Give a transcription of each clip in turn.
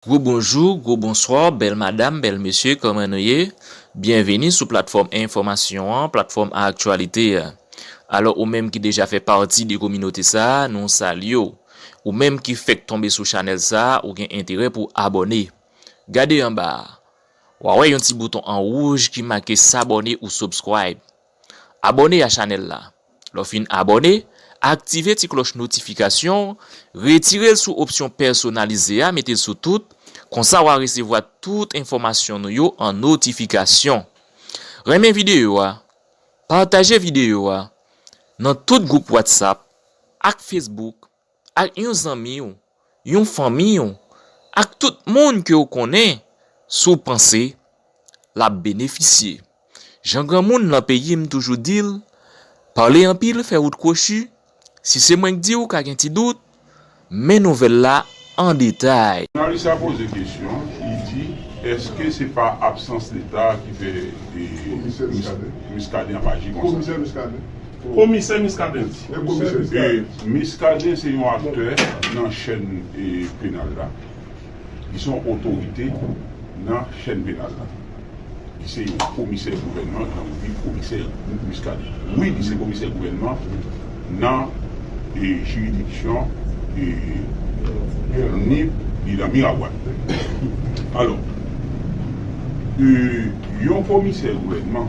Gwo bonjou, gwo bonswa, bèl madam, bèl mesye, kòman nou ye? Byenvini sou platfòm enfòmasyon an, platfòm aktyalite a. Alò ou menm ki deja fè pati de kominote sa, nou salye w. Ou menm ki fèk tonbe sou chanèl sa, ou gen enterè pou abòne. Gade anba a. Wa wè yon ti bouton an wouj ki make s'abonner ou subscribe. Abòne a chanèl la. Lè w fin abòne, aktive ti klòch notifikasyon, retire l sou opsyon pèsonalize a mete l sou tout, konsa wa resevwa tout enfòmasyon nou yo an notifikasyon. Renmen videyo a, pataje videyo a nan tout gwoup WhatsApp ak Facebook Ak yon zanmi w, yon fanmi w, ak tout moun ke w konnen, si w panse l ap benefisye. Jan granmoun lan peyi m toujou di l, pale anpil fè wout kwochi, si se mwen k di w ka gen ti dout, men nouvèl la an detay. Jounalis la poze kesyon, li di, Eske se pa absans Leta ki fè Komisè Miskaden ap aji konsa? Komisè Miskaden di. Ke Miskaden se yon aktè nan chèn penal la. Li se yon otorite nan chèn penal la. Li se yon komisè gouvènman jan nou di komisè Miskaden. Wi li se komisè gouvènman nan jiridiksyon Nip li nan Miragwàn. Alò yon komisè gouvènman.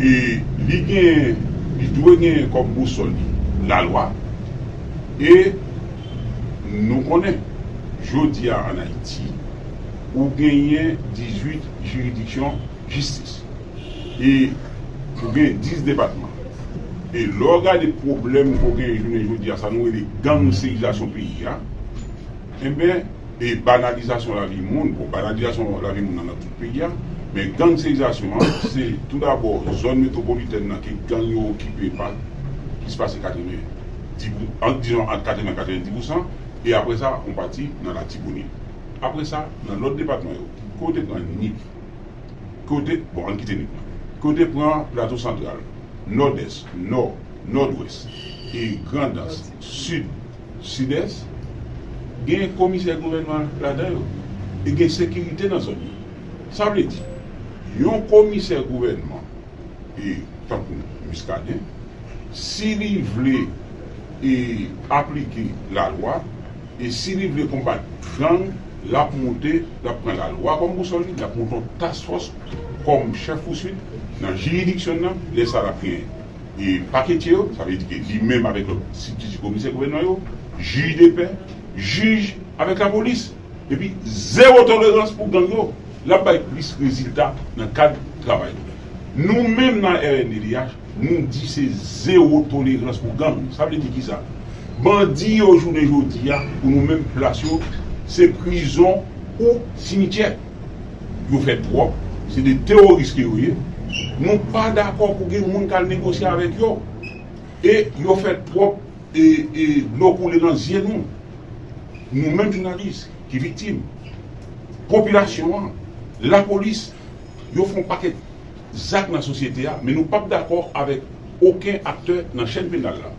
e li genyen, li dwe genyen kòm bousòl li lalwa e nou konnen jodi a an Ayiti ou genyen 18 jiridiksyon jistis e ou genyen 10 depatman e lè w gade pwoblèm ke w genyen jounen jodi a sa nou rele gangsterizasyon peyi a. Enben, e banalizasyon lavi moun, bon banalizasyon lavi moun nan nan tout peyi a, men gangsterizasyon an, se tou dabò zòn metwopolitèn nan ke gang yo okipe pa plis pase 90 di pou, ant dizon ant 80 a 90 pousan, e apre sa on pati nan Latibonit. Apre sa, nan lòt depatman yo, ke w te pran Nip, ke w te, bon ann kite Nip lan, ke w te pran Plato Santral, Nòdès, Nò, Nòdwès, e Grandans, Sid, Sidès, gen komisè gouvènman ladan yo e gen sekirite nan zòn yo. Sa vle di, yon komisè gouvènman e tankou Muscadin, si li vle e aplike lalwa e si li vle konbat gang, l ap moute, l ap pran lalwa kòm bousòl li, l ap moute yon task fòs kòm chèf pouswit nan jiridiksyon l lan, lè sa l ap gen. paketye yo, sa vle di ke li menm avèk lòt sibtiti komisè gouvènman yo, jij de pè, jij avèk lapolis. Epi zewo tolerans pou gang yo. L ap bay plis rezilta nan kad travay li. Nou menm nan rnddh, nou di se zewo tolerans pou gang. Sa vle di ki sa? Bandi yo jounen jodi a, pou nou menm plas yo, se prizon ou simityè. Yo fè twòp, se de teworis ke yo ye, nou pa dakò pou gen moun kal negosye avèk yo, e yo fè twòp e e dlo koule nan zye nou, nou menm jounalis ki viktim, popilasyon an, lapolis, yo fè yon pakèt zak nan sosyete a, men nou pap dakò avèk oken aktè nan chèn penal la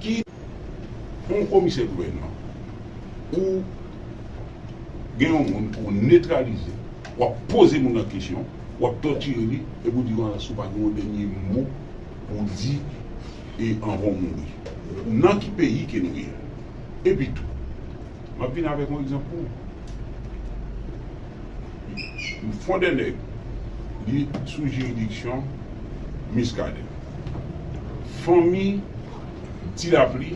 ki. Yon komisè gouvènman ou Gen yon moun pou w netralize, w ap poze moun nan kesyon, w ap tòtire li epi w di Lawrence ou pa gen yon dènye mo pou w di e anvan w mouri. Nan ki peyi ke nou ye? Epi tou, m ap vin avèk yon egzanp pou ou. Fon dè nèg, li sou jiridiksyon Muscadin. Fanmi Ti Lapli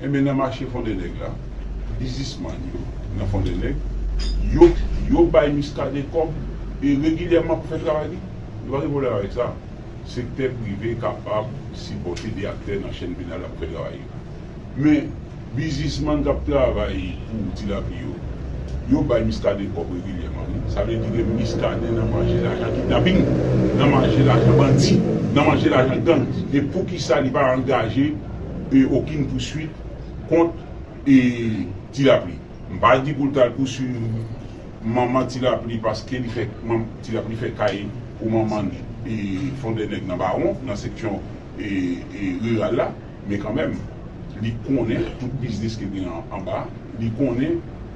Enben nan mache Fondènèg la, bizismann yo nan Fondènèg, yo, yo bay Muscadin kòb e regilyèman pou fè travay li. Nou pa gen pwoblèm avèk sa. Sektè prive kapab sipòte de aktè nan chèn penal la pou fè travay yo. Men, bizismann k ap travay pou Ti Lapli yo, yo bay Muscadin kòb regilyèman wi. Sa vle di ke Muscadin nan manje lajan kidnaping, nan manje lajan bandi, nan manje lajan gang. E poukisa li pa angaje. okin pouswit kont Ti Lapli. M pa di pou l t al pouswiv manman Ti Lapli paske li fè Ti Lapli fè kay pou manman l Fondènèg nan Bawon, nan seksyon riral la, men kanmenm li konnen tout biznis ki te gen anba, li konnen.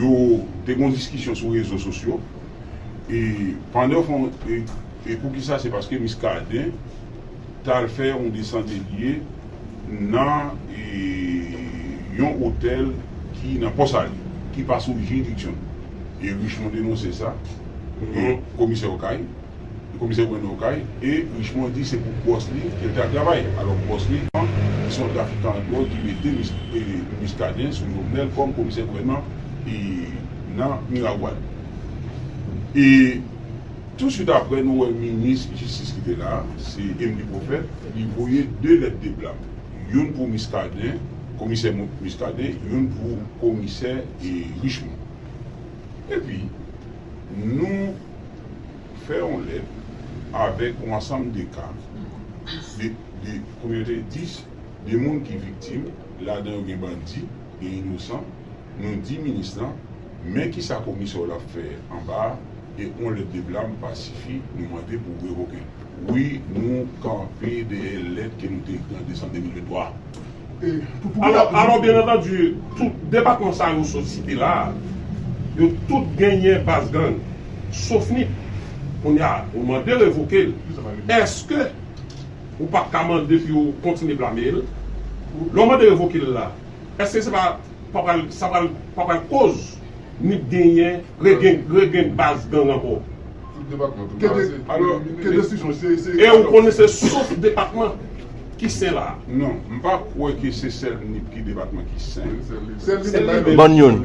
yo te gen yon diskisyon sou rezo sosyo e pandan yo fon e poukisa se paske Muscadin tal fè yon desandelye nan yon otèl ki nan Pò Sali ki pa sou jiridiksyon li e Richemond denonse sa e komisè Okay. Komisè Brando Okay e Richemond di se pou bòs li ke l te ap travay. Alò bòs li an ki se yon trafikan dwòg ki mete Muscadin sou Jovenel kòm komisè gouvènman e nan Miragwàn. E touswit aprè nou wè minis jistis ki te la a, se Emmelie Prophète, li voye 2 lèt de blam. Youn pou Muscadin, komisè Muscadin, youn pou komisè Richemond. Epi nou. fè yon lèt avèk yon ansanm de ka, de, de, kòm yo te di, de moun ki viktim, ladan yo gen bandi, gen inosan, nou di minis lan, men ki sa komisè w la ap fè anba a, e yon lèt de blam pa sifi, nou mande pou revoke l. Wi, nou kanpe dèyè lèt ke nou te ekri an desanm 2023 a. Alò, byen antandi, tout depatman sa yo sot site la a, yo tout genyen baz gang, sof Nip. Kounye a, ou mande revoke l, èske ou pa t ka mande pou yo kontinye blame l? Lè w mande revoke l la, èske se pa sa pa pral koz Nip genyen, regeng baz gang ankò? E ou konnen se sof depatman? Ki sen la? Non, m pa kwè ke se sèl Nip ki depatman ki sen. Bann youn.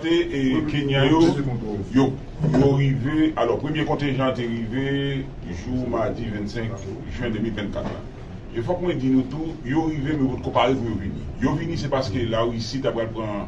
Te Kenyan yo, yo rive, alò premye kontenjan an te rive jou madi 25 jen 2024 la. E fòk mwen di nou tou, yo rive men potko pare pou yo vini. Yo vini se paske Larisi ta pral pran.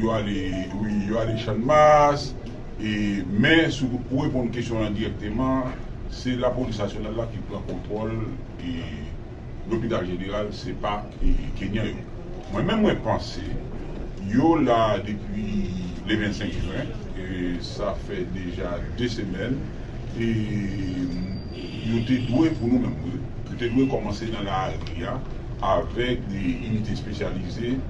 Yo ale wi, yo ale channmas e men sou pou reponn kesyon lan dirèkteman se lapolis nasyonal la ki pran kontwòl e lopital jeneral se pa kenyan yo mwen menm mwen panse yo la depi le 25 jwen e sa fè deja 2 semèn e yo te dwe pou nou menm wi yo te dwe kòmanse nan lari a avèk inite espesyalize.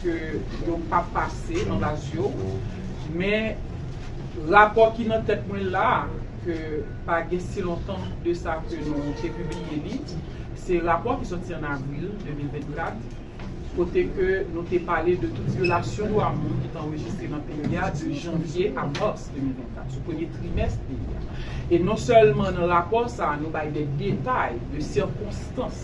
ke yo pa pase anba zye w, men rapò ki nan tèt mwen la a, ke pa gen si lontan de sa ke nou te pibliye li, se rapò ki sòti an avril 2024, kote ke nou te pale de tout vyolasyon dwa moun ki te anrejistre nan peyi a de janvye a mas 2024, sou premye trimès peyi a. E non sèlman nan rapò sa a nou bay de detay de sikonstans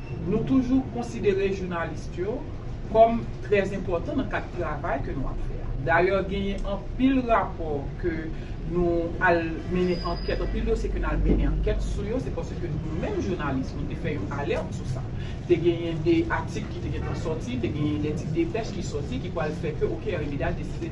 Nou toujou konsidere journalist yo kòm trè enpòtan nan kad travay ke nou ap fè a. Dayè genyen anpil rapò ke nou al mennen ankèt, anpil dosye ke n al mennen ankèt sou yo se paske nou menm journalist nou te fè yon alert sou sa. Te genyen de atik ki te gentan sòti, te genyen de ti depèch ki sòti ki pwal fè ke ok RMDH deside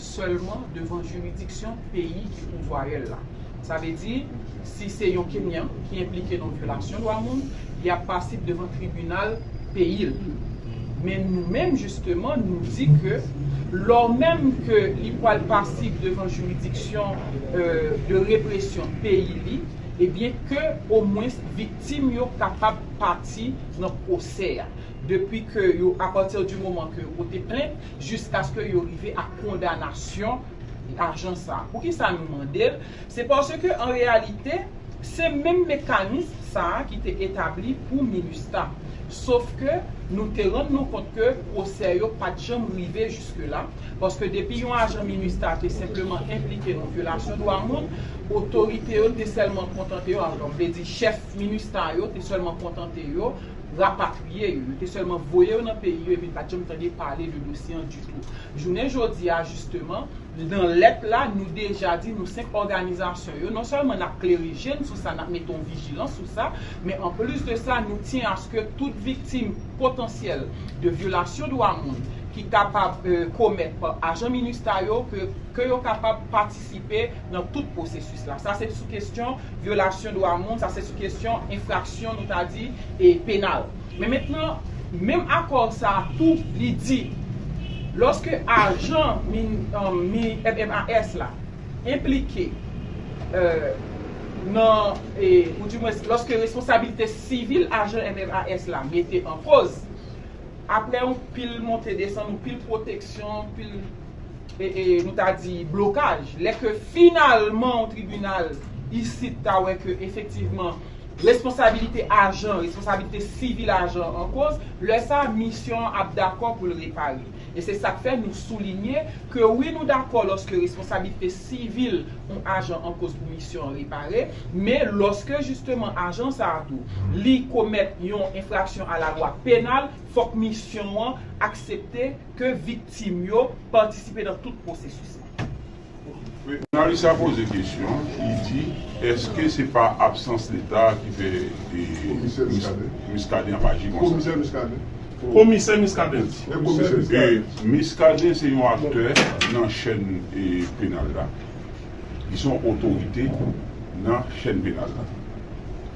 sèlman devan jiridiksyon peyi ki pou vwayèl la. Sa vle di, si se yon Kenyan ki enplike nan vyolasyon dwa moun, li ap pasib devan tribinal peyi l. Men nou menm jisteman nou di ke lò menm ke li pwal pasib devan jiridiksyon de represyon peyi li, ebyen ke omwens viktim yo kapab pati nan pwosè a. Depi ke yo, apati di moman ke yo pote plent, jiskaske yo rive ak kondanasyon ajan sa. Poukisa nou mande l? Se paske an reyalite, se menm mekanism sa ki te etabli pou minustah. Sof ke nou te rann nou kont ke pwosè yo pa t janm rive jiske la, paske depi yon ajan minustah te senpleman enplike nan vyolasyon dwa moun, otorite yo te sèlman kontante yo, vle di chèf minustah yo te sèlman kontante yo, rapatriye yo, yo te sèlman voye yo nan peyi yo epi n pa t janm tande pale de dosye an ditou. Jounen jodi a jisteman, nan lèt la, nou deja di nou 5 òganizasyon yo, non sèlman n ap klere je n sou sa, n ap mete yon vijilans sou sa, men an plis de sa, nou tyen aske tout viktim potansyèl de vyolasyon dwa moun ki kapab komèt pa ajan minustah yo, ke yo kapab patisipe. patisipe nan tout pwosesis la. Sa se sou kesyon vyolasyon dwa moun, sa se sou kesyon enfraksyon nou ta di e penal. Men mentnan, menm akò sa a tou li di lòske ajan MNMAS la enplike nan e ou di mwens lòske responsabilite sivil ajan MNMAS la mete an koz, aprè yon pil monte desann, yon pil pwoteksyon, yon pil. nou ta di blokaj, lè ke finalman yon tribinal isit ta wè ke efektivman responsabilite ajan, responsabilite sivil ajan an koz, lè sa a misyon an ap dakò pou l repare. E se sa k fè nou soulinye ke wi nou dakò lòske responsabilite sivil yon ajan an koz pou misyon an repare, men lòske jisteman ajan sa a tou li komèt yon enfraksyon a la lwa penal, fòk misyon an aksepte, ke viktim yo patisipe nan tout pwosesis la. Jounalis la poze kesyon, li di, Eske se pa absans Leta a ki fè Muscadin ap aji konsa? Komisè Muscadin di, Muscadin se yon aktè nan chèn penal la. Li se yon otorite nan chèn penal la.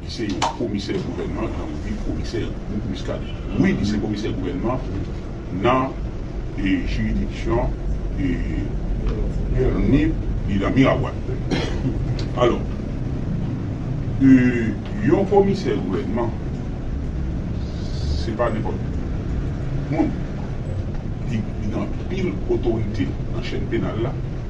Li se yon komisè gouvènman nan oubyen komisè gwoup Muscadin. Wi, li se komisè gouvènman nan jiridiksyon Nip, li nan Miragwàn. Alò, yon komisè gouvènman, se pa nenpòt moun. Li gen anpil otorite nan chèn penal la.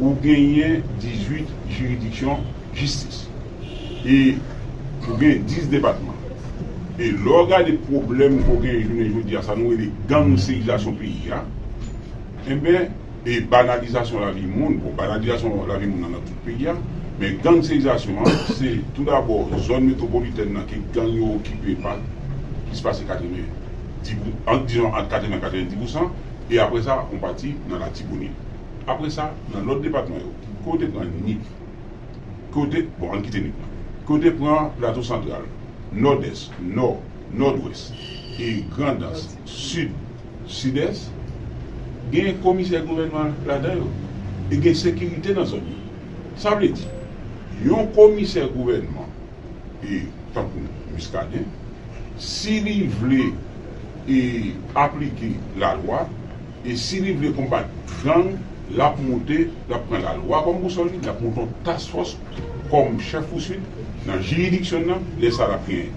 ou genyen 18 jiridiksyon jistis e ou gen 10 depatman e lè w gade pwoblèm ke w genyen jounen jodi a sa nou rele gangsterizasyon peyi a enben e banalizasyon lavi moun bon banalizasyon lavi moun nan nan tout peyi a men gangsterizasyon an se tou dabò zòn metwopolitèn nan ke gang yo okipe pa plis pase 90 pou ant dizon ant 80 a 90 pousan e apre sa on pati nan latibonit. Apre sa, nan lòt depatman yo, ke w te pran Nip, ke w te, bon ann kite Nip lan, ke w te pran Plato Santral, Nòdès, Nò, Nòdwès, e Grandans, Sid, Sidès, gen komisè gouvènman ladan yo e gen sekirite nan zòn yo. Sa vle di, yon komisè gouvènman e tankou Muscadin, si li vle e aplike lalwa, E si li vle konbat gang, lap moute, lap pran la lwa kòm bousòl li, lap moute yon task fòs kòm chèf pouswit nan jiridiksyon n nan, lè sa lap gen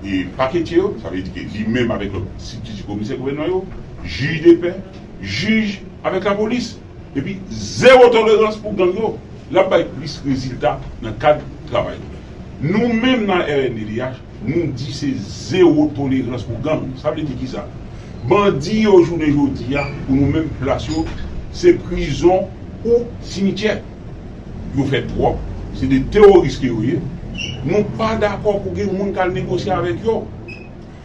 e paketye yo, sa vle di ke li menm avèk lòt sibtiti komisè gouvènman yo, jij de pè, jij avèk lapolis. Epi zewo tolerans pou gang yo. Lap bay plis rezilta nan kad travay nou. Nou menm nan rnddh. Nou di se zero tolerans pou gang. Sa vle di kisa? Bandi yo jounen jodi a pou nou menm plas yo se prizon ou simityè. Yo fè twòp, se 2 teworis ke yo ye. Nou pa dakò pou gen moun kal negosye avèk yo.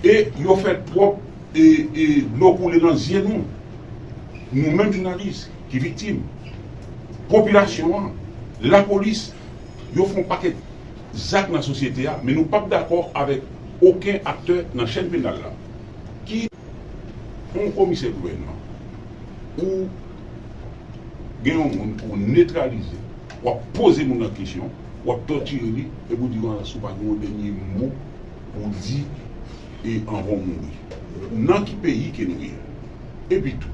E yo fè twòp e e dlo koule nan zye nou. Nou menm jounalis ki viktim. Popilasyon an, lapolis yo fon pakèt. zak nan sosyete a men nou pap dakò avèk oken aktè nan chèn penal la ki yon komisè gouvènman ou gen yon moun pou w netralize wap poze moun nan kesyon wap tòtire li epi w di wans ou pa gen yon dènye mo pou w di anvan w mouri nan ki peyi ke nou ye epitou.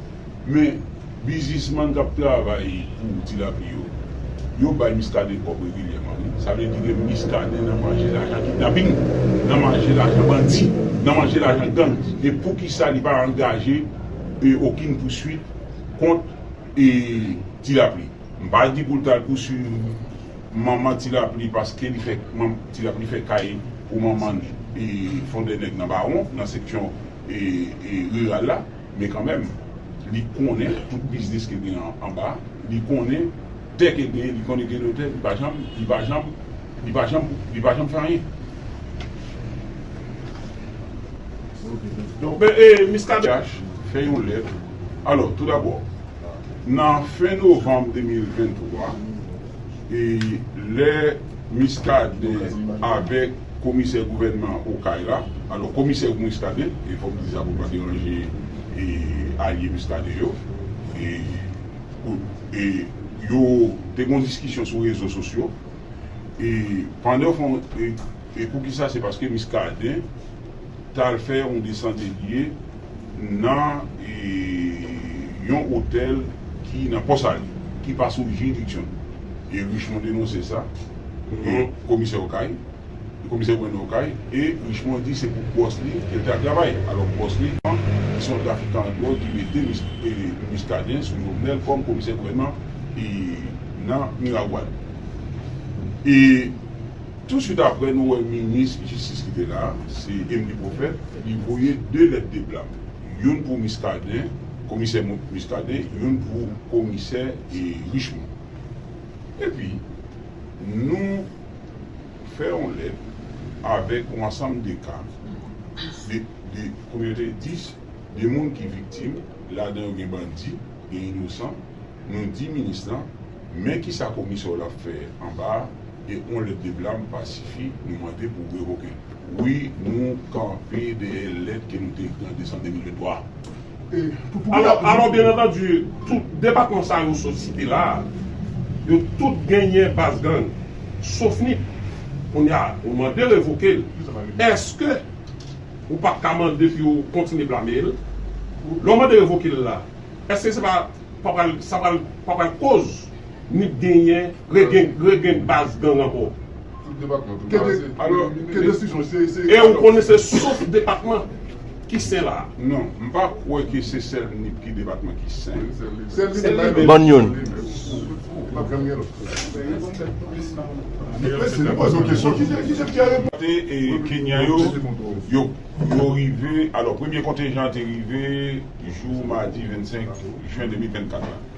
Men, biznisman k ap travay pou Tilapi yo, yo bay Muscadin kòb regilyèman wi. Sa vle di ke Muscadin nan manje lajan kidnaping, nan manje lajan bandi, nan manje lajan gang. E poukisa li pa angaje okin pouswit kont Tilapi? M pa di pou l t al pouswiv manman Tilapi paske li fè, Tilapi fè kay pou manman l Fondènèg nan Bawon, nan seksyon riral la. Men kanmenm, li konnen tout biznis ke gen anba, li konnen tè ke gen, li konnen gen notè, li pa janm, li pa janm, li pa janm, li pa janm fè anyen. Miskaden Jacques fè yon lèt, alò, tou dabò, nan fen novanm 2023, lè Muscadin avèk komisè gouvènman an Okay la, alò komisè ou Muscadin, e fò m di sa pou m pa deranje alye Muscadin yo, e yo te gen yon diskisyon sou rezo sosyo, e pandan fon, e poukisa se paske Muscadin t al fè yon desandelye. nan yon otèl ki nan Pò Sali, ki pa sou jiridiksyon li. E Richemond denonse sa nan komisè Okay, komisè gouvènman Okay, e Richemond di se pou bòs li ke l te al travay. Alò bòs li an, ki se yon trafikan dwòg ki mete Muscadin sou Jovenel kòm komisè gouvènman nan Miragwàn. E. Tou swit aprè nou wè minis jistis ki te la, se Emly Prophète, li voye 2 lèt de blam, youn pou Muscadin, komisè Muscadin, youn pou komisè Richemond. Epi nou fè yon lèt avèk yon ansanm de ka, de, de, konbyen yo te ye? 10, de moun ki viktim, ladan yo gen bandi, gen inosan, nou di minis lan, men kisa komisè w la fè anba a, e on lèt de blam pa sifi nou mande pou revoke l. Wi nou kanpe dèyè lèt ke nou te ekri an desanm 2023 a. Alò byen antandi tout depatman sa yo sot site la a yo tout genyen baz gang sof nip. Kounye a ou mande revoke l èske ou pa t ka mande pou yo kontinye blame l? Lè w mande revoke l la èske se pa sa pa pral koz Nip genyen regen baz gang anko. Tout depatman tou kraze. E ou konnen se sof depatman ki sen la. Non, m pa kwe ke se sel nip ki depatman ki sen. Ban yon. Te e kenyan yo, yo rive, alo premye kontenjan te rive jou madi 25 jen 2024 la.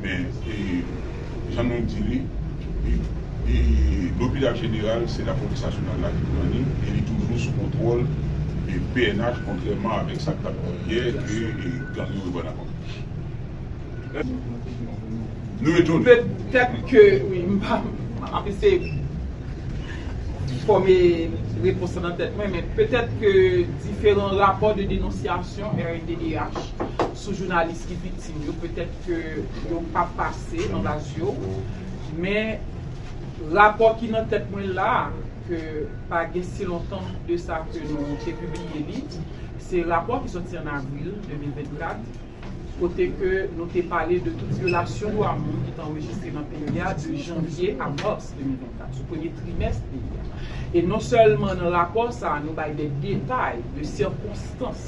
Men, jan nou di li, lopital jeneral se lapolis nasyonal la ki pran li e li toujou sou kontwòl pnh kontrèman avèk sa k t ap di yè ke gang yo reprann ankò. Nou etone. Petèt ke wi, m ap eseye fòme repons lan nan tèt mwen, men petèt ke diferan rapò de denonsyasyon rnddh sou jounalis ki viktim yo petèt. ke yo pa pase nan radyo men rapò ki nan tèt mwen la ke pa gen si lontan de sa ke nou te pibliye li se rapò ki sòti an avril 2024 kote ke nou te pale de tout vyolasyon dwa moun ki te anrejistre nan peyi a de janvye a mas 2024 sou premye trimès peyi a e non sèlman nan rapò sa nou bay de detay de sikonstans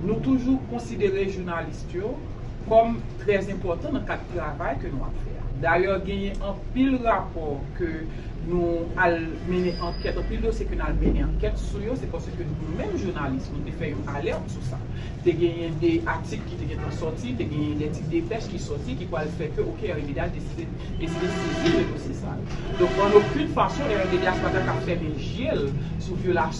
Nou toujou konsidere journaliste yo kòm trè enpòtan nan kad travay ke nou ap fè a. Dayè genyen anpil rapò ke nou al mennen ankèt, anpil dosye ke nou al mennen ankèt sou yo, se paske nou menm journaliste nou te fè yon alerte sou sa. Te genyen de atik ki te gentan sòti, te genyen de ti depèch ki sòti ki pwal fè ke ok RMDH deside deside sezi de dosye sa yo. Donk an okenn fason RMDH pa ta ka fèmen je l sou vyolasyon.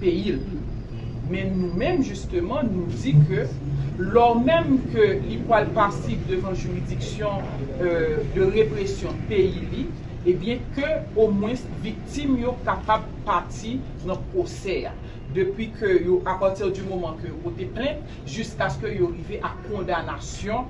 peyi l. Men nou menm jisteman nou di ke lò menm ke li pwal pasib devan jiridiksyon de represyon peyi li ebyen ke omwens viktim yo kapab pati nan pwosè a depi ke yo apati di moman ke yo pote plent jiskaske yo rive a kondanasyon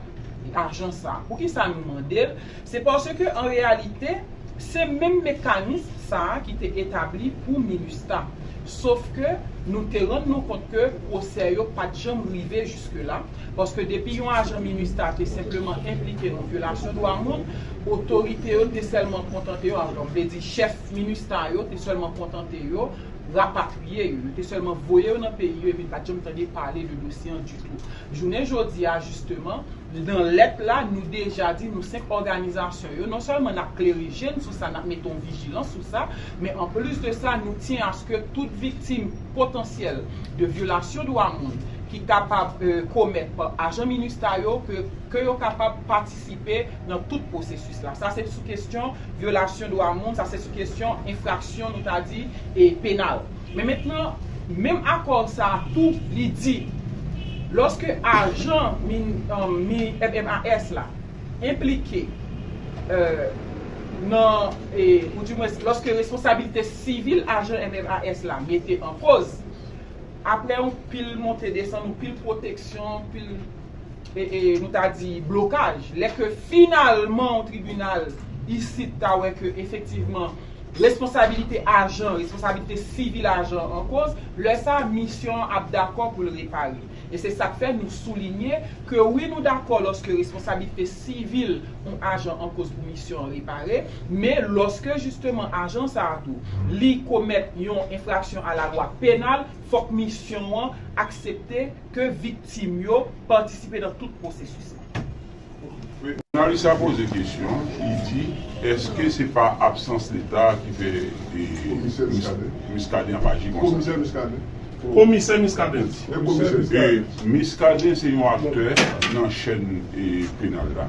lajan sa. Poukisa nou mande l? Se paske an reyalite, se menm mekanism sa ki te etabli pou minustah. Sof ke nou te rann nou kont ke pwosè yo pa t janm rive jiske la, paske depi yon ajan minustah te senpleman enplike nan vyolasyon dwa moun, otorite yo te sèlman kontante yo, alon vle di chèf minustah yo te sèlman kontante yo rapatriye yo, yo te sèlman voye yo nan peyi yo epi n pa t janm tande pale de dosye an ditou. Jounen jodi a jisteman, nan lèt la nou deja di nou 5 òganizasyon yo, non sèlman n ap klere je n sou sa, n ap mete yon vijilans sou sa, men an plis de sa nou tyen aske tout viktim potansyèl de vyolasyon dwa moun ki kapab komèt pa ajan minustah yo ke ke yo kapab patisipe nan tout pwosesis la. Sa se sou kesyon vyolasyon dwa moun, sa se sou kesyon enfraksyon nou ta di e penal. Men mentnan, menm akò sa a tou li di, lòske ajan MINEST la enplike nan, ou di mwens lòske responsabilite sivil ajan MINEST la mete an koz, apre yon pil monte desann, yon pil pwoteksyon, yon pil. nou ta di blokaj, lè ke finalman yon tribinal isit ta wè ke efektivman responsabilite ajan, responsabilite sivil ajan an koz, lè sa a misyon an ap dakò pou l repare. E se sa k fè nou soulinye ke wi nou dakò lòske responsabilite sivil yon ajan an koz pou misyon an repare, men lòske jisteman ajan sa a tou li komèt yon enfraksyon alalwa penal, fòk misyon an aksepte, ke viktim yo patisipe nan tout pwosesis la. Jounalis la poze kesyon, li di, Eske se pa absans Leta a ki fè Muscadin ap aji konsa? Komisè Muscadin di. Muscadin se yon aktè nan chèn penal la.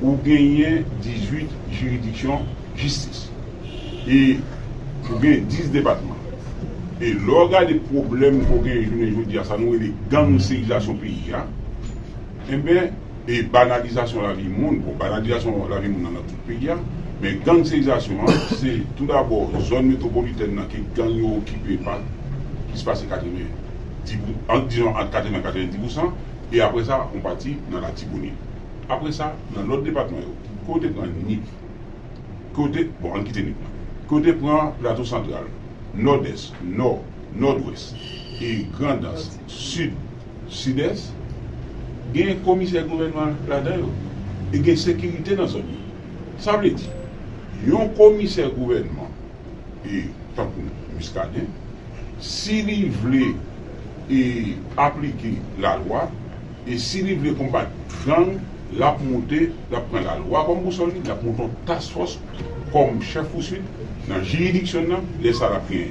ou genyen 18 jiridiksyon jistis e ou gen 10 depatman e lè w gade pwoblèm ke w genyen jounen jodi a sa nou rele gangsterizasyon peyi a enben e banalizasyon lavi moun bon banalizasyon lavi moun nan nan tout peyi a men gangsterizasyon an se tou dabò zòn metwopolitèn nan ke gang yo okipe pa plis pase 90 ant disons ant 80 a 90 pousan e apre sa yon pati nan latibonit. Apre sa, nan lòt depatman yo, ke w te pran Nip, ke w te, bon ann kite Nip lan, ke w te pran Plato Santral, Nòdès, Nò, Nòdwès, e Grandans, Sid, Sidès, gen komisè gouvènman ladan yo e gen sekirite nan zòn yo. Sa vle di, yon komisè gouvènman. e tankou Muscadin si li vle e aplike la lwa e si li vle konbat gang lap moute lap pran la lwa kòm bousòl li lap moute yon task fòs kòm chèf pouswit nan jiridiksyon n nan lè sa lap gen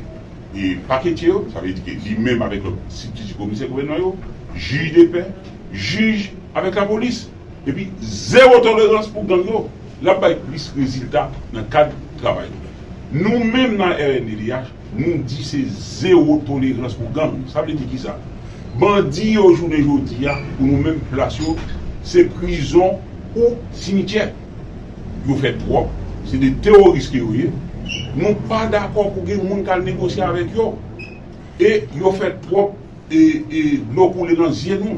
e paketye yo sa vle di ke li menm avèk lòt sibtiti komisè gouvènman yo jij de pè jij avèk lapolis. Epi zewo tolerans pou gang yo. L ap bay plis rezilta nan kad travay nou. Nou menm nan rnddh, nou di se zewo tolerans pou gang. Sa vle di kisa? Bandi yo jounen jodi a, pou nou menm, plas yo se prizon ou simityè. Yo fè twòp, se 2 teworis ke yo ye. Nou pa dakò pou gen moun k al negosye avèk yo. E yo fè twòp e dlo koule nan zye nou.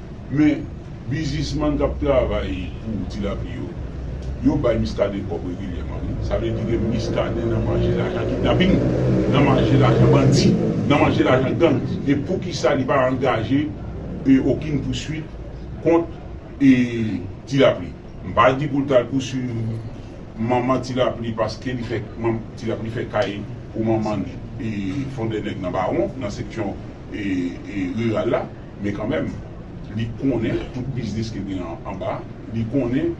Men, bizismann k ap travay pou Tilapli yo, yo bay Miskaden kòb regilyèman wi. Sa vle di ke Miskaden nan manje lajan kidnaping, nan manje lajan bandi, nan manje lajan gang. E poukisa li pa angaje okin pouswit kont Tilapli? M pa di pou l t al pouswiv manman Tilapli paske li fè, Tilapli fè kay pou manman l Fondènèg nan Bawon, nan seksyon riral la. Men kanmenm, li konnen tout biznis ke gen anba, li konnen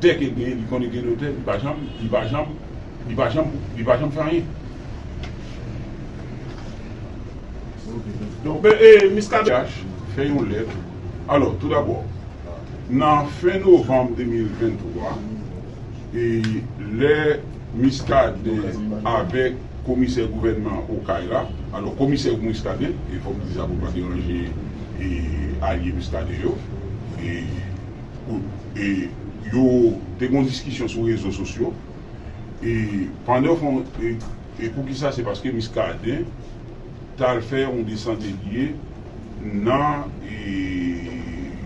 tè ke gen, li konnen gen notè, li pa janm, li pa janm, li pa janm, li pa janm fè anyen. Donk, men, e, Miskaden CH fè yon lèt, alò, tou dabò, nan fen novanm 2023, lè Muscadin avèk komisè gouvènman an Okay la, alò komisè ou Muscadin, e fò m di sa pou m pa deranje alye Muscadin yo, e yo te gen yon diskisyon sou rezo sosyo, e pandan fon, e poukisa se paske Muscadin. tal fè yon desant e lye nan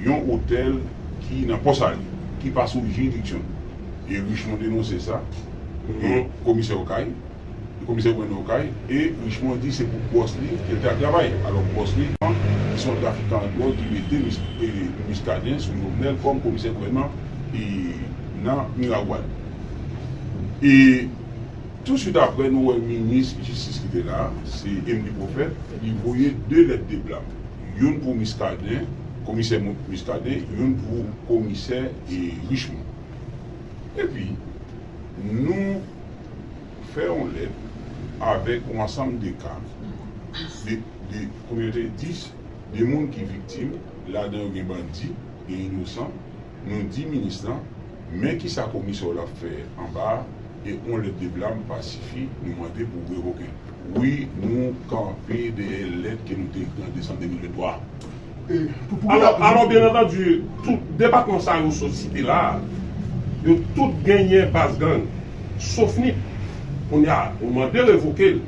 yon otèl ki nan Pò Sali, ki pa sou jiridiksyon l. E Richemond denonse sa nan komisè Okay, komisè gouvènman Okay, e Richemond di se pou bòs li ke l te al travay. Alò bòs li an, ki se yon trafikan dwòg ki mete Muscadin sou Jovenel kòm komisè gouvènman nan Miragwàn. E. Tou swit aprè nou wè minis jistis ki te la, se Emly Prophète, li voye 2 lèt de blam, youn pou Muscadin, komisè Muscadin, youn pou komisè Richemond. Epi nou fè yon lèt avèk yon ansanm de ka, de, de, konbyen yo te? 10, de moun ki viktim, ladan yo gen bandi, gen inosan. Nou di minis lan, men kisa komisè w la ap fè anba a, e on lèt de blam pa sifi, nou mande pou w revoke l. Wi, nou kanpe dèyè lèt ke nou te ekri an desanm 2023 a. Alò, byen antandi, tout depatman sa yo sot site la a, yo tout genyen baz gang, sof nip. Kounye a, ou mande revoke l,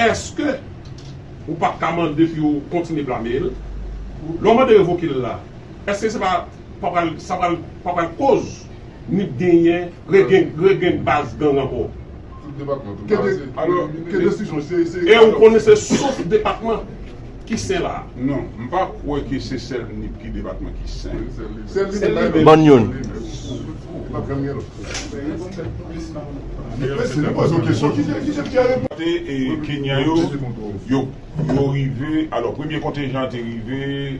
èske ou pa t ka mande pou yo kontinye blame l? Lè w mande revoke l la, èske se pa. pa pral sa pral pa pral koz nip genyen re gen re gen baz gang ankò ke de alò ke desizyon se se e ou konnen se sof depatman ki sen la non m pa kwè ke se sèl nip ki depatman ki sen sèl li menm bann youn te e kenyan yo yo yo rive alò premye kontenjan an te rive.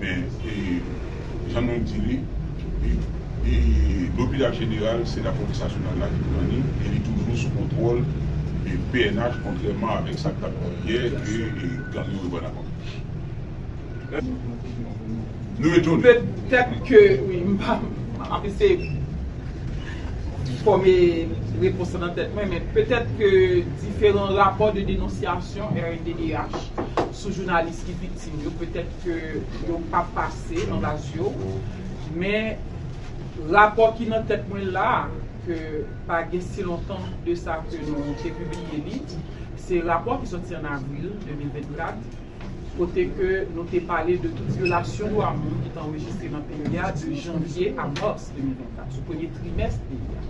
Men, jan nou di li, lopital jeneral se lapolis nasyonal la ki pran li e li toujou sou kontwòl pnh kontrèman avèk sa k t ap di yè ke gang yo reprann ankò. Nou etone. Petèt ke wi, m ap eseye fòme repons lan nan tèt mwen, men petèt ke diferan rapò de denonsyasyon rnddh sou jounalis ki viktim yo petèt. ke yo pa pase anba zyew men rapò ki nan tèt mwen la ke pa gen si lontan de sa ke nou te pibliye li se rapò ki sòti an avril 2024 kote ke nou te pale de tout vyolasyon dwa moun ki te anrejistre nan peyi a de janvye a mars 2024 sou premye trimès peyi a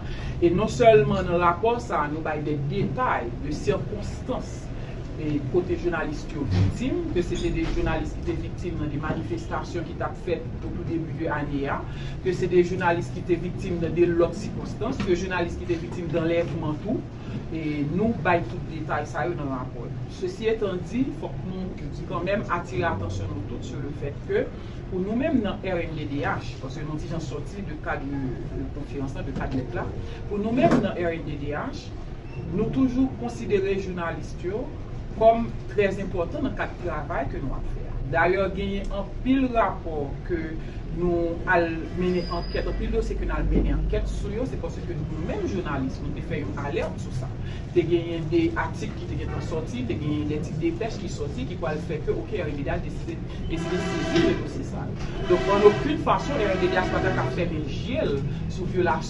e non sèlman nan rapò sa nou bay de detay de sikonstans kote jounalis yo viktim, ke se te 2 jounalis ki te viktim nan 2 manifestasyon ki tap fèt o tou debi de ane a, ke se 2 jounalis ki te viktim nan 2 lòt sikonstans, ke jounalis ki te viktim danlèvman tou, nou bay tout detay sa yo nan rapò nou. Sesi etan di, fòk nou kanmenm atire atansyon nou tout sou le fèt ke pou nou menm nan rnddh, paske nou ti jan sòti de kad konferans la, de kad lèt la, pou nou menm nan rnddh, Nou toujou konsidere journaliste yo kòm trè enpòtan nan kad travay ke nou ap fè a. Dayè genyen anpil rapò ke nou al mennen ankèt, anpil dosye ke nou al mennen ankèt sou yo, se paske nou menm journaliste nou te fè yon alerte sou sa. Te genyen de atik ki te gentan sòti, te genyen de ti depèch ki sòti ki pwal fè ke ok RMDH deside deside sezi de dosye sa yo. Donk an okenn fason RMDH pa ta ka fèmen je l sou vyolasyon.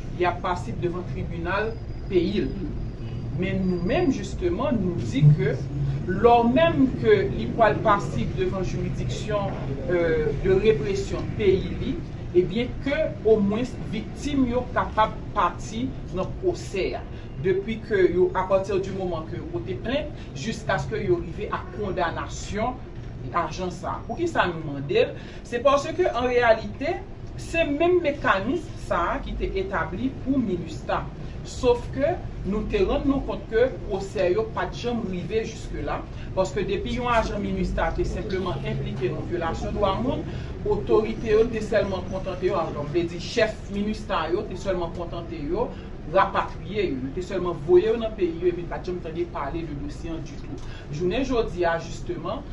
li ap pasib devan tribinal peyi l. Men nou menm jisteman nou di ke lò menm ke li pwal pasib devan jiridiksyon de represyon peyi li ebyen ke omwens viktim yo kapab pati nan pwosè a depi ke yo apati di moman ke yo pote plent jiskaske yo rive a kondanasyon ajan sa. Poukisa nou mande l? Se paske an reyalite, se menm mekanism sa a ki te etabli pou Minustah. Sof ke nou te rann nou kont ke pwosè yo pa t janm rive jiske la, paske depi yon ajan Minustah te senpleman enplike nan vyolasyon dwa moun, otorite yo te sèlman kontante yo, alon vle di chèf Minustah yo te sèlman kontante yo rapatriye yo, yo te sèlman voye yo nan peyi yo epi n pa t janm tande pale de dosye an ditou. Jounen jodi a jisteman.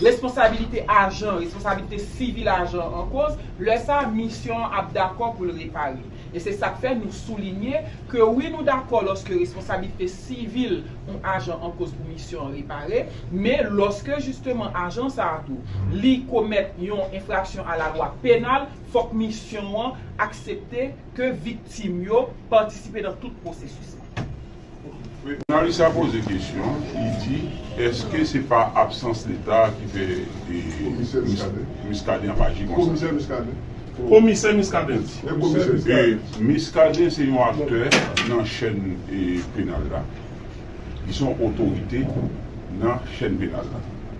Responsabilite ajan, responsabilite sivil ajan an koz, lè sa a misyon an ap dakò pou l repare. E se sa k fè nou soulinye ke wi nou dakò lòske responsabilite sivil yon ajan an koz pou misyon an repare, men lòske jisteman ajan sa a tou li komèt yon enfraksyon a la lwa penal, fòk misyon an aksepte ke viktim yo patisipe nan tout pwosesis la. Jounalis la poze kesyon, li di, eske se pa absans leta ki fè Muscadin ap aji konsa? Komisè Muscadin di, Muscadin se yon aktè nan chèn penal la, li se yon otorite nan chèn penal la.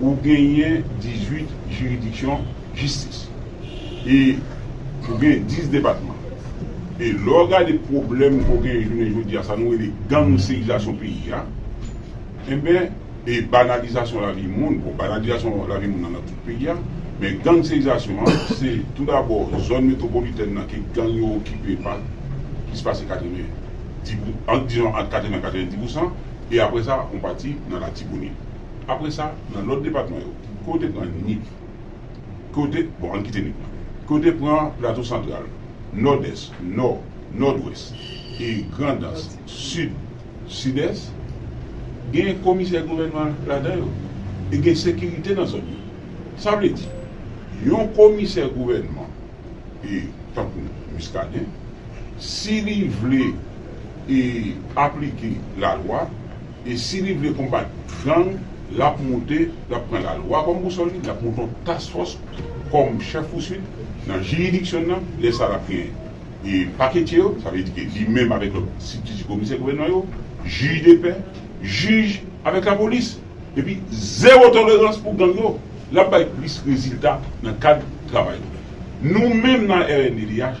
ou genyen 18 jiridiksyon jistis e ou gen 10 depatman e lè w gade pwoblèm ke w genyen jounen jodi a sa nou rele gangsterizasyon peyi a enben e banalizasyon lavi moun bon banalizasyon lavi moun nan nan tout peyi a men gangsterizasyon an se tou dabò zòn metwopolitèn nan ke gang yo okipe pa plis pase 90 pou ant dizon ant 80 a 90 pousan e apre sa on pati nan latibonit. Apre sa, nan lòt depatman yo, ke w te pran Nip, ke w te, bon ann kite Nip lan, ke w te pran Plato Santral, Nòdès, Nò, Nòdwès, e Grandans, Sid, Sidès, gen komisè gouvènman ladan yo e gen sekirite nan zòn yo. Sa vle di, yon komisè gouvènman e tankou Muscadin, si li vle e aplike lalwa, E si li vle konbat gang, l ap monte, l ap pran lalwa kòm bousòl li, l ap monte yon task fòs kòm chèf pouswit nan jiridiksyon n nan, lè sa l ap gen e paketye yo, sa vle di ke li menm avèk lòt sibtiti komisè gouvènman yo, jij de pè, jij avèk lapolis. Epi zewo tolerans pou gang yo. L ap bay plis rezilta nan kad travay nou. Nou menm nan rnddh.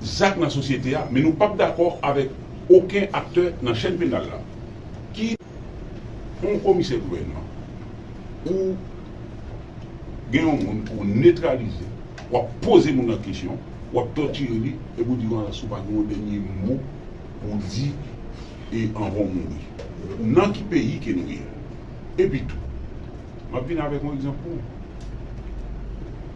zak nan sosyete a men nou pap dakò avèk oken aktè nan chèn penal la ki Yon komisè gouvènman ou gen Yon moun pou w netralize wap poze moun nan kesyon wap tòtire li epi w di Yon alansi w pa gen Yon dènye mo pou w di e anvan w mouri nan ki peyi ke nou ye epitou map vin avèk Yon egzanp pou w.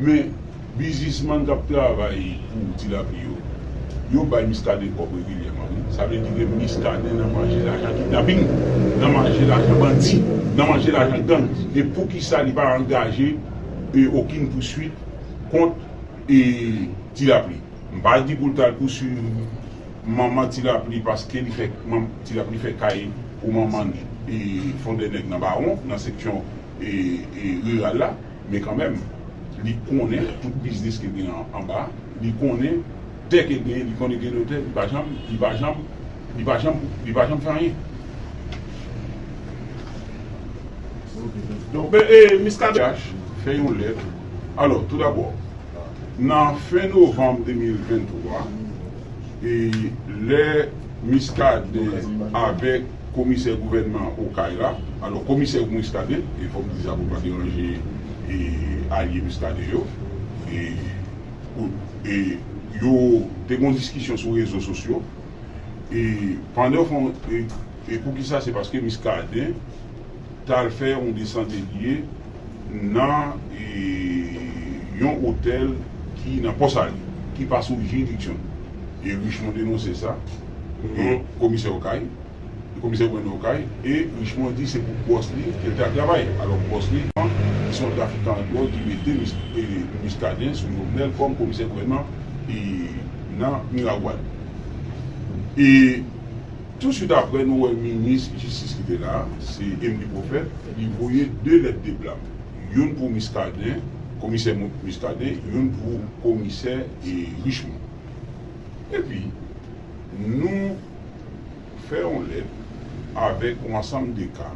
Men, bizisman k ap travay pou tilapli yo, yo bay Muscadin kòb regilyèman wi. Sa vle di ke Muscadin nan manje lajan kidnaping, nan manje lajan bandi, nan manje lajan gang. E poukisa li pa angaje okin pouswit kont tilapli? M pa di pou l t al pouswiv manman tilapli paske li fè tilapli fè kay pou manman l fondènèg nan Bawon, nan seksyon riral la. Men kanmenm, li konnen tout biznis ke gen anba, li konnen tè ke gen, li konnen gen notè, li pa janm, li pa janm, li pa janm, li pa janm fè anyen. Donk, men, e, Miskaden CH fè yon lèt, alò, tou dabò, nan fen novanm 2023, e, lè Miskaden avèk. Komisè gouvènman Okay la, alò komisè pou Muscadin, e fòm di sa pou pa deranje e alye Muscadin yo, e pou e yo te gon diskisyon sou rezo sosyo, e pandan fon e e poukisa se paske Muscadin. tal fè yon desante gye nan yon otèl ki nan Pò Sali, ki pa sou jiridiksyon l. E Richemond denonse sa devan komisè Okay, komisè gouvènman Okay, e Richemond di se pou bòs li ke l te al travay. Alò bòs li an, ki se yon trafikan an dwòg ki mete Muscadin sou Jovenel kòm komisè gouvènman nan Miragwàn. E. Tou swit aprè nou wè minis jistis ki te la, se Emily Prophète, li voye 2 lèt de blam, youn pou Muscadin, komisè Muscadin, youn pou komisè Richemond. Epi nou fè yon lèt avèk yon ansanm de ka,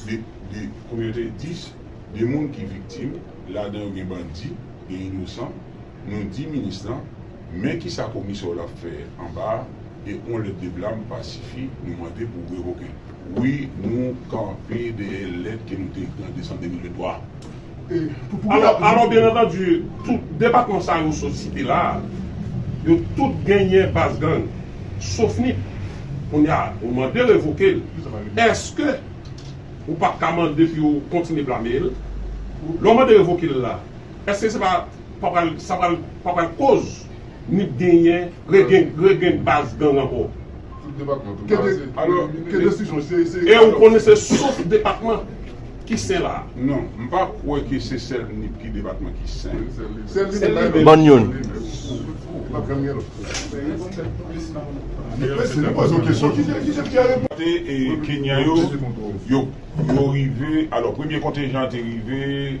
de, de, konbyen yo te ye? 10, de moun ki viktim, ladan yo gen bandi, gen inosan, nou di minis lan, Men kisa komisè w la fè anba a e on lèt de blam pa sifi nou mande pou revoke l. Wi nou kanpe dèyè lèt ke nou te ekri an desanm 2023 a. Alò byen antandi tout depatman sa yo sot site la a yo tout genyen baz gang sof nip. Kounye a ou mande revoke l èske ou pap ka mande pou yo kontinye blame l? Lè w mande revoke l la èske se pa. sa pa pral koz nip genyen regen baz gang anko e ou konnen se sof depatman ki sen la non m pa kwe ke se sel nip ki depatman ki sen bann yon kote kenyan yo yo rive alo premye kontenjan te rive.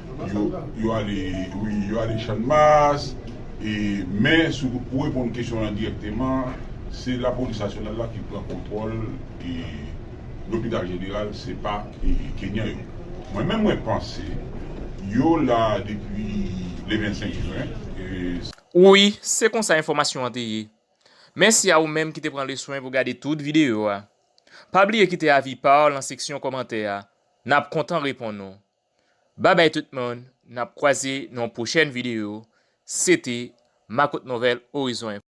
Yo ale wi, yo ale Channmas, e men si w reponn kesyon an dirèkteman, se lapolis nasyonal la ki pran kontwòl e lopital jeneral se pa kenyan yo. Mwen menm mwen panse yo la depi le 25 jen e. Wi, se konsa enfòmasyon an te ye. Mèsi a ou menm ki te pran le swen pou gade tout videyo a. Pa bliye kite avi pa w lan seksyon kòmantè a, n ap kontan reponn ou. Bye bye tout moun nap kwaze nan yon pwochèn video se te Makotnowèl Horizon Info.